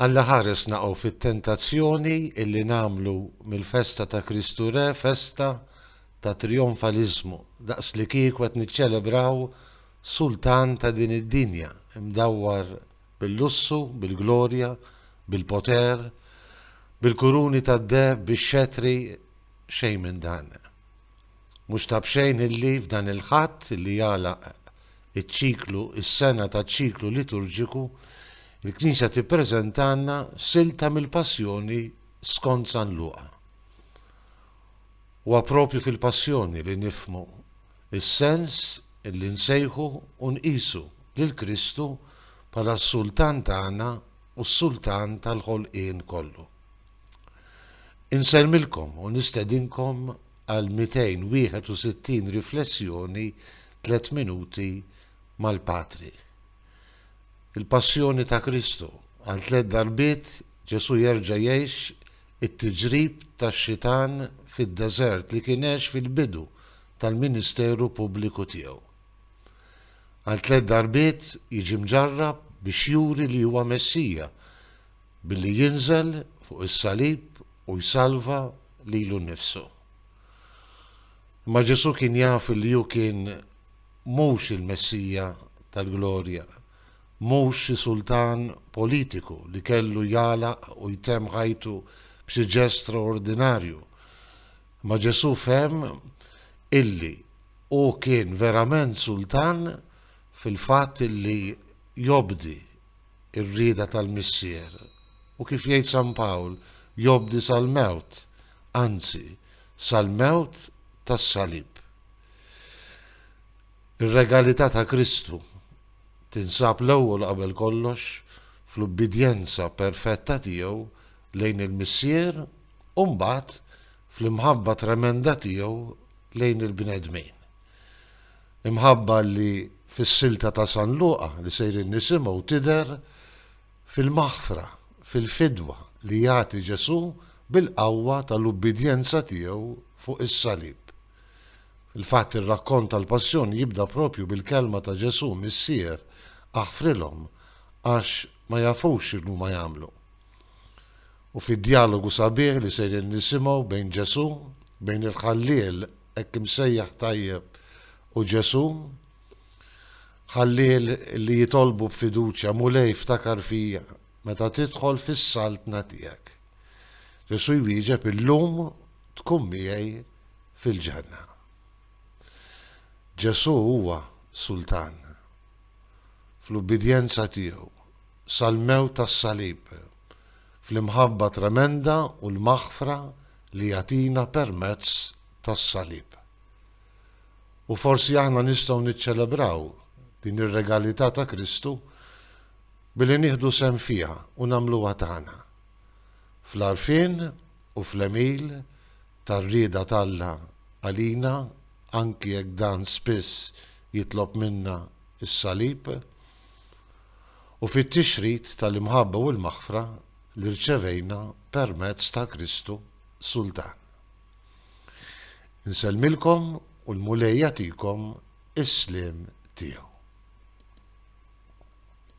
Alla ħaresna u fit-tentazzjoni illi nagħmlu mill-festa ta' Kristu Re festa ta' trijonfaliżmu, daqs li kieku qed niċċelebraw sultan ta' din id-dinja, imdawwar bil-lussu, bil-glorja, bil-poter, bil-kuruni tad-deheb, bix-xetri, xejn minn dan. Mhux ta' b'xejn illi f'dan il-Ħadd li jagħlaq iċ-ċiklu, is-sena taċ-ċiklu liturġiku, il-Knisja tippreżentalna silta mill-Passjoni skont San Luqa. Huwa proprju fil-Passjoni li nifhmu s-sens li nsejħu u nqisu lil Kristu bħala s-Sultan tagħna u s-Sultan tal-ħolqien kollu. Insellmilkom u nistedinkom għal 261 riflessjoni tliet minuti mal-Patri. Il-Passjoni ta' Kristu għal tliet darbiet Ġesù jerġa' jgħix it-tiġrib tax-xitan fid-deżert li kien għex fil-bidu tal-ministeru pubbliku tiegħu. Għal tliet darbiet jiġi mġarrab biex juri li huwa Messija billi jinżel fuq is-salib u jsalva lilu nnifsu. Imma Ġesù kien jaf li hu kien mhux il-Messija tal-glorja, mhux xi sultan politiku li kellu jagħlaq u jtemm ħajtu b'xi ġest straordinarju. Imma Ġesù fehem illi hu kien verament sultan fil-fatt illi jobdi ir-rieda tal-Missier u kif jgħid San Pawl, jobdi sal-mewt, anzi, sal-mewt tas-salib. Ir-regalità ta' Kristu tinsab l-ewwel qabel kollox fl-ubbidjenza perfetta tiegħu lejn il-Missier u mbagħad fl-imħabba tremenda tiegħu lejn il-bnedmin. Imħabba li fis-silta ta' San Luqa li sejrin nisimgħu tidher fil-maħfra, fil-fidwa li jagħti Ġesù bil-qawwa tal-ubbidjenza tiegħu fuq is-salib. Fil-fatt ir-rakkont tal-Passjoni jibda proprju bil-kelma ta' Ġesù, Missier, aħfrilhom, għax ma jafux x'inhuma jagħmlu. U fid-djalogu sabiħ li sejrin nisimgħu bejn Ġesù, bejn il-Ħalliel Hekk imsejjaħ tajjeb hu Ġesù. Ħallih li jitolbu b'fiduċja, Mulej, ftakar fija meta tidħol fis-saltna tiegħek. Ġesù jwieġeb, Illum tkun miegħi fil-ġenna. Ġesù huwa Sultan. Fl-ubbidjenza tiegħu, sal-mewt tas-Salib, fl-imħabba tremenda u l-maħfra li jagħtina permezz tas-Salib. U forsi aħna nistgħu niċċelebraw din ir-regalità ta' Kristu billi nieħdu sehem fiha u nagħmluha tagħna, fl-għarfien u fl-għemil tar-rieda t'Alla għalina anki jekk dan spiss jitlob minna s-Salib, u fit-tixrid tal-imħabba u l-maħfra li rċevejna permezz ta' Kristu Sultan. Insellmilkom u l-Mulej jagħtikom is-sliem tiegħu.